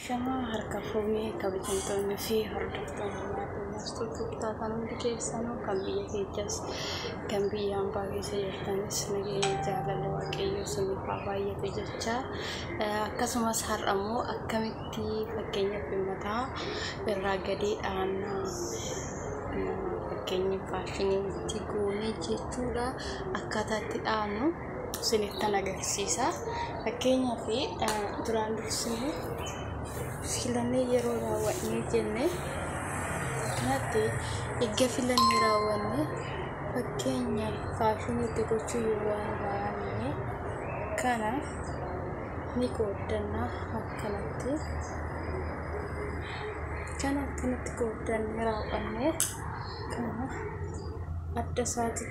Shamaa harka fuunee kabajamtoonni fi hordoftoonni maatii maastuu tuqtaa kan hundi keessanuu kan biyya keechas kan biyya ambaa keessa jirtanis nageenya jaalala waaqayyoo siniif haa baay'atu jecha akkasumas har'a immoo akkamitti fakkeenya bimmataa irraa gadee dhaannaa fakkeenya faashiniitti goonee jechuudha akkaataatti dhaannu isinittan agarsiisa. Fakkeenyaaf duraan dursinee filannee yeroo raawwannee jenne kanatti erga filannee raawwannee fakkeenya faashinii itti gochuu yoo barbaanne kana ni qooddanna akkanatti. Kana akkanatti qooddanne raawwannee kana adda isaati.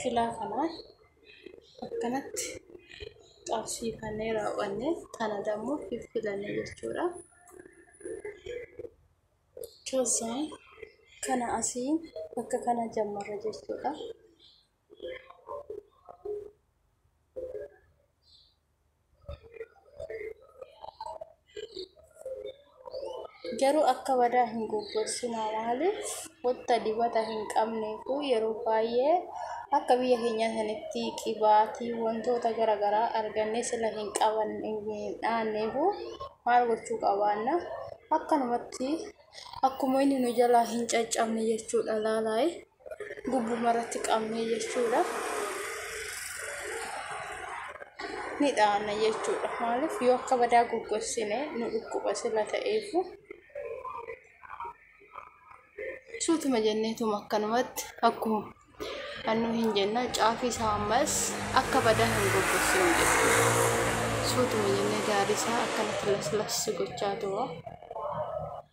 kilaa kanaa akkanatti qabsiifannee raawwanne kana dammoo fiffilanne jechuudha. Keessaan kana asii bakka kana jammarra jechuudha. Garuu akka badaa hin goggogsina maaliif wanta dibata hin qabneefu yeroo baay'ee akka biyya keenya sanitti qibaatii wantoota gara garaa argannee sila hin qaban hin dhaanneefu maal gochuu qabaanna akkanumatti akkuma inni nu jalaa hin caccabne jechuudha laalaayi. gubbuma irratti qabnee jechuudha. Ni dhaana jechuudha. Maaliif yoo akka badaa goggossine nu dhukkuba sila ta'eefu. Suutuma jenneetuma akkanumatti akkuma annu hin jenna caafii isaa ammas akka badaa hin goggossinu jechuudha. Suutuma jennee gaarii isaa akkanatti laslas gochaa tuwa.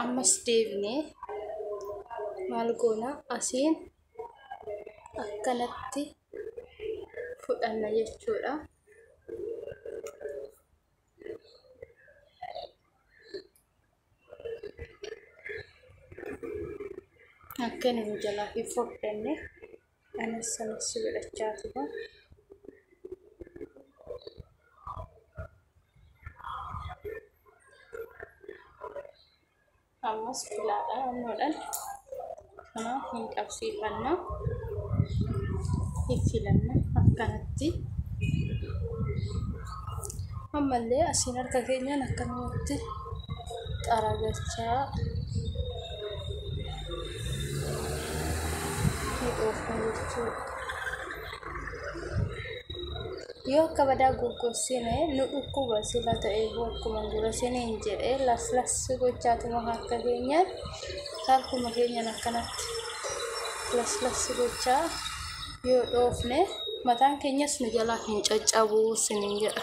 ammas deebinee maal goona asiin akkanatti fudhanna jechuudha. Akka inni nu jalaa hin fudhanne. Anis sanas si godhachaa tura. Ammas filaadha annoodhaan kanaaf hin qabsiifanna. Hin filanna akkanatti. Ammallee asiin harka keenyaan akkanumatti xaragalchaa. Yoo akka badaa goggogsine nu dhukkuba sila ta'e akkuma dura siniin jedhee laslassi gochaatuma harka keenya harkuma keenyan akkanatti laslassi gochaa yoo dhoofne mataan keenyas nu jalaa hin caccabu siniin jedha.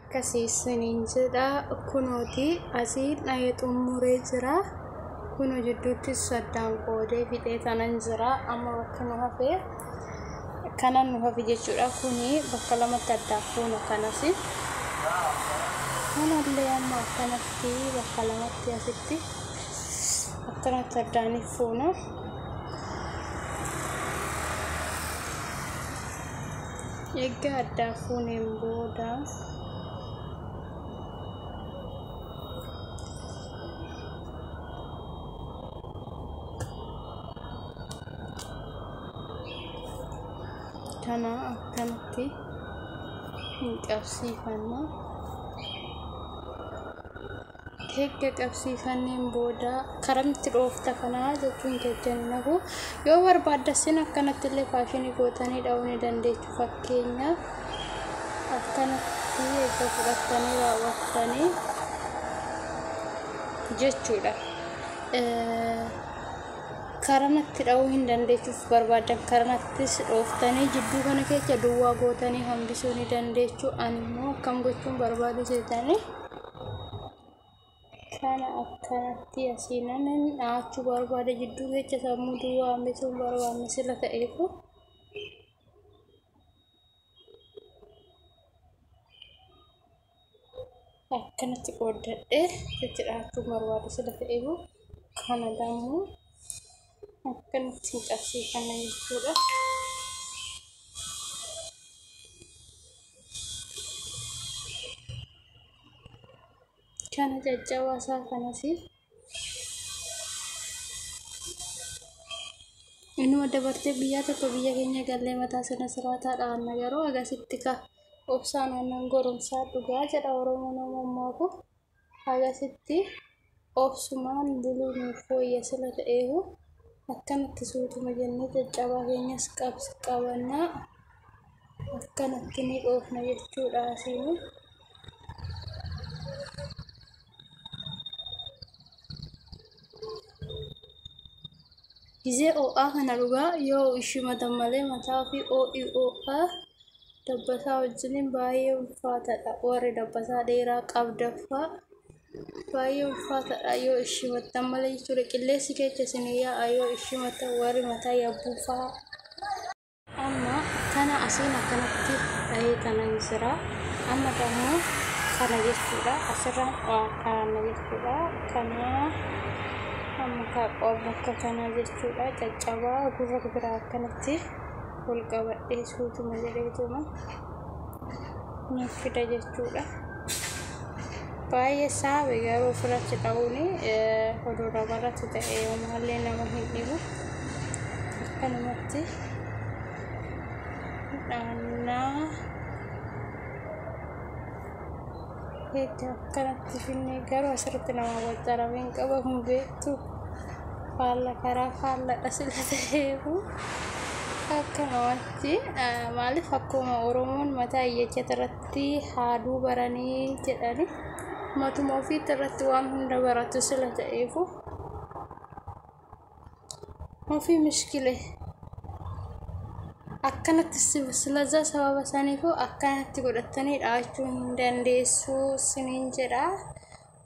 akkasii isiniin jedha kunooti asii dha'ee xumuree jira kuno jidduutti saddaan qoodee fixee tanan jira amma bakka nu hafee Kanan nu hafe jechuudha kuni bakka lamatti addaaf fuuna kanas kanallee amma akkanatti bakka lamatti asitti akkanatti addaaniif fuuna. Eegga addaa fuuneen booda kana akkanatti hin qabsiifanna erga qabsiifanneen booda karamitti dhoofta kanaa jechuun jajjani nahu yoo barbaaddasin akkanatti illee faashinii gootanii dha'uu ni dandeechu fakkeenyaaf akkanatti erga fudhattanii raawwattanii jechuudha. karanatti dha'uu hin dandeechuuf barbaaddan karanattis dhooftanii jidduu kana keessa duwwaa gootanii hambisuu ni dandeechu ani immoo akkam gochuun barbaadu jeetanii kana akkanatti asiinan dha'achuu barbaada jidduu keessa sammuu duwwaa hambisuun barbaadne sila ta'eefu akkanatti qooddadhe jechuudha akka barbaadu sila ta'eefu kana immoo akkanatti hin cabsee kana jechuudha. Kana caccabaa isaa kanas Inuma dabartee biyyaa tokko biyya keenya gallee mataa sana siraataa dhaanna garuu agasitti ka obsaan aannan goromsaa dhugaa jedha Oromoon Oromoo kun agasitti obsumaan buluu nuuf fooyya sila ta'eehu akkanatti suutuma jennee caccabaa keenyas qabs qabannaa akkanatti ni dhoofna jechuudha asiin. Gizee oo'aa kana dhugaa yoo ishii matan malee mataa ofii oo'i oo'aa dabbasaa wajjiniin baay'ee ulfaataadha. Warri dabbasaa dheeraa qabdaffaa baay'ee ulfaataadha yoo ishii matan malee jechuudha. Qilleensi keessa isin yaa'a yoo ishii matan warri mataa yabbuu fa'aa. Amma kana asiin akkanatti dhahee kanan jira. Amma immoo kana jechuudha. Asirraan kaa'anna jechuudha. Kana amma kaaqoo bakka kana jechuudha. Caccabaa gurra biraa akkanatti ol qabadhee suutuma jedheetuma. nuuf fida jechuudha. Baay'ee saabe garuu ofirratti qabuun fuduraa irratti ta'e yoomaallee nama hin dhibu. Akkanumatti dhaannaa. Egaa akkanatti finnee garuu asirratti nama waccaramee hin qaba hin beektu. Faalla karaa faalladha sila ta'eefu akkanumatti maaliif akkuma Oromoon mataa iyyachata irratti haaduu baranii jedhani matuma ofiitti irratti waan hunda baratu sila ta'eefu. Ofii mishkile akkanatti si- silazaa sababa saniifuu akkanatti godhattanii dhaachuu hin dandeessuu siniin jedha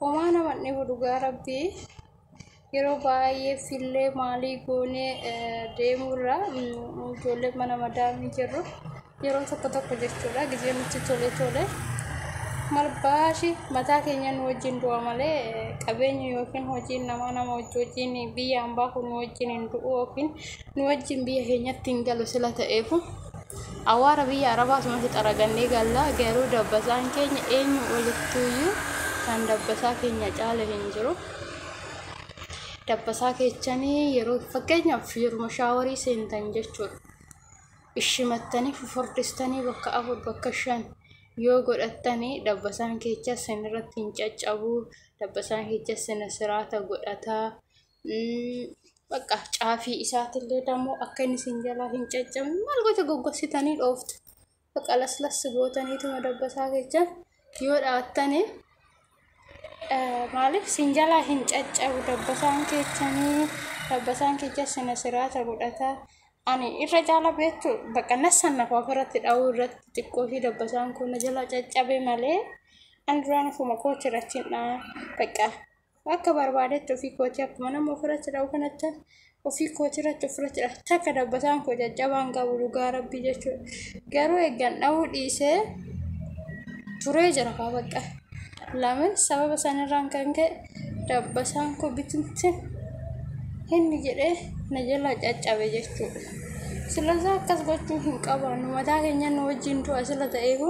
homaa nama hin dhibu dhugaa rabbii yeroo baay'ee fillee maalii goonee eh, deemuurra mm, ijoollee mana madaamii jirru yeroo tokko tokko jechuudha gizee nutti tole tole mal baashi mataa keenya nu wajjin du'a malee qabeenyi yookiin hojiin namaa nama wajji wajjin biyya ambaa kun nu wajjin hin du'u yookiin nu wajjin biyya keenyatti hin galu sila ta'eefu awaara biyya arabaa sumatti xaragannee galla garuu dabbasaan keenya eenyu olittuuyyuu kan dabbasaa keenya caala hin jiru. Dabbasaa keechanii yeroo fakkeenyaaf yeruma shaawarii seentan jechuudha. ishimattanii fufurdistanii bakka afur bakka shan yoo godhattanii dabbasaan keecha sin irratti hin caccabuu dabbasaan keecha sina siraata godhataa bakka caafii isaatillee dammoo akka inni sin jalaa hin caccabne maal goota goggositanii dhooftu bakka laslas gootaniituma dabbasaa keecha yoo dhaattani maaliif sin jalaa hin caccabu dabbasaan keechanii dabbasaan keecha sina siraata godhata ani irra jaala beektu bakka nassan nafa ofirratti dha'uu irratti xiqqoo fi dabbasaan kun na jalaa caccabe malee an duraan ofuma kootirratti hin dha'a bakka Akka barbaadetti ofii kootii akkuma nama ofirratti dha'u kanatti ofii kootii irratti ofirratti dha'a. Takka dabbataan koo jajjabaan qabu dhugaa rabbii jechuudha. Garuu eeggan dha'uu dhiisee turee jira kaa bakka. Lamin sababa sanirraan kan ka'e dabbasaan koo bitimti inni jedhee na jala caccabe jechuudha. Silazaa akkas gochuu hin qabaannu mataa keenya nu wajjin du'a sila ta'eefu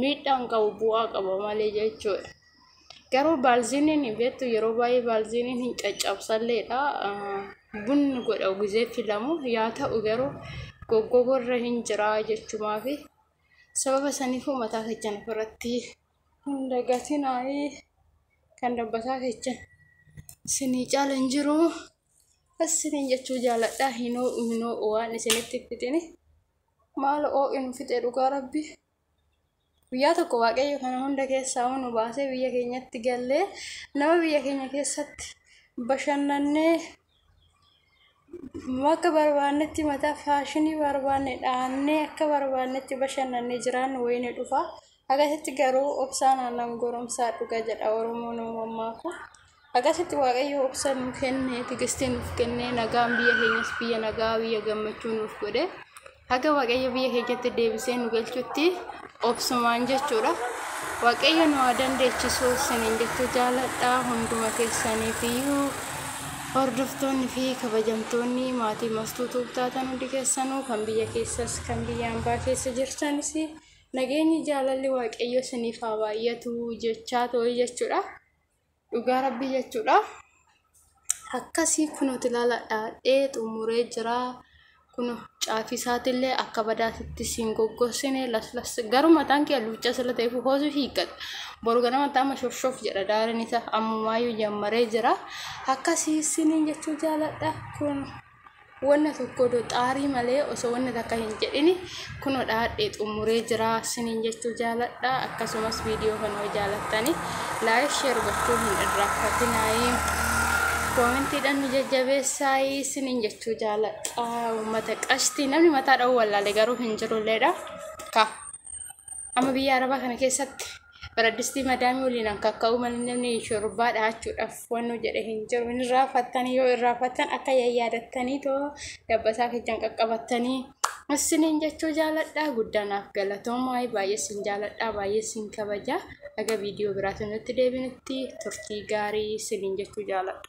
miidhaa hin qabu bu'aa qaba malee jechuudha. Garuu baalziiniin beektu yeroo baay'ee baalziiniin hin caccabsalleedha. Bunni godha gizee filamu yaa ta'u garuu goggogorra hin jiraa jechumaa fi sababa saniifuu mataa keessan ofirratti hin dagatinaayii kan dabbataa keessan isinii caala hin jiru. Isiniin jechuu jaaladha hinoo minoo waan isinitti fidini maal oo'inu fixe dhugaa rabbii. Guyyaa tokko waaqayyo kana hunda keessaa nu baasee biyya keenyatti gallee nama biyya keenya keessatti bashannannee akka barbaannetti mataa faashinii barbaanne dhaannee akka barbaannetti bashannannee jiraannu wayine dhufa. Akkasitti garuu obsaan aannan goromsaa dhuga jedha Oromoon Oromoo ammaa kun. Akkasitti Waaqayyo obsa nu kenne, tigistii nuuf kenne, nagaan biyya keenyas biyya nagaa, biyya gammachuu nuuf godhe. Haga Waaqayyo biyya keenyatti deebisee nu galchutti obsumaan jechuudha. Waaqayyo nu haa dandeechisu isiniin jechuu jaaladha hunduma keessaniif iyyuu hordoftoonni fi kabajamtoonni maatii mastuu tuubtaatan hundi keessanuu kan biyya keessas kan biyya ambaa keessa jirtanis nageenyi jaalalli Waaqayyo isiniif haa baay'atu jechaa ta'u jechuudha. Dhugaa rabbii jechuudha. Akkasii kunuuti laala dhaadhee xumuree jira. Kunu caafii isaatiillee akka badaatitti siin goggorsine laslas garuu mataan kee luuccaa sila ta'eef hoosu hiikkata. Boru ganama taama shofshof jedha daariin isaa ammumaayyuu jammaree jira. Akkasii isiniin jechuu jaaladha kunu. Wanna tokko do xaarii malee osoo wanna takka hin jedhini kuno dhaadhee xumuree jira sinin jechuu jaaladha akkasumas viidiyoo kana yoo jaalattani laayik sheer gochuu hin irraanfatinaayi koomentiidhaan nu jajjabeessaayi sinin jechuu jaaladha uummata qashtii namni mataa dha'uu wallaalee garuu hin jirulleedha ka Amma biyya Arabaa kana keessatti baraddistii madaamii waliin an kakka'uu malee namni shurrubbaa dhahachuudhaaf wannu jedhe hin jiru. Hin irraanfattanii yoo irraanfattan akka yayyaadattanii too dabbasaa keessan qaqqabattanii isiniin jechuu jaaladhaa guddaa naaf galatoomaa baay'ee isin jaaladhaa baay'ee isin kabajaa aga viidiyoo biraatu nutti deebinutti turtii gaarii isiniin jechuu jaaladha.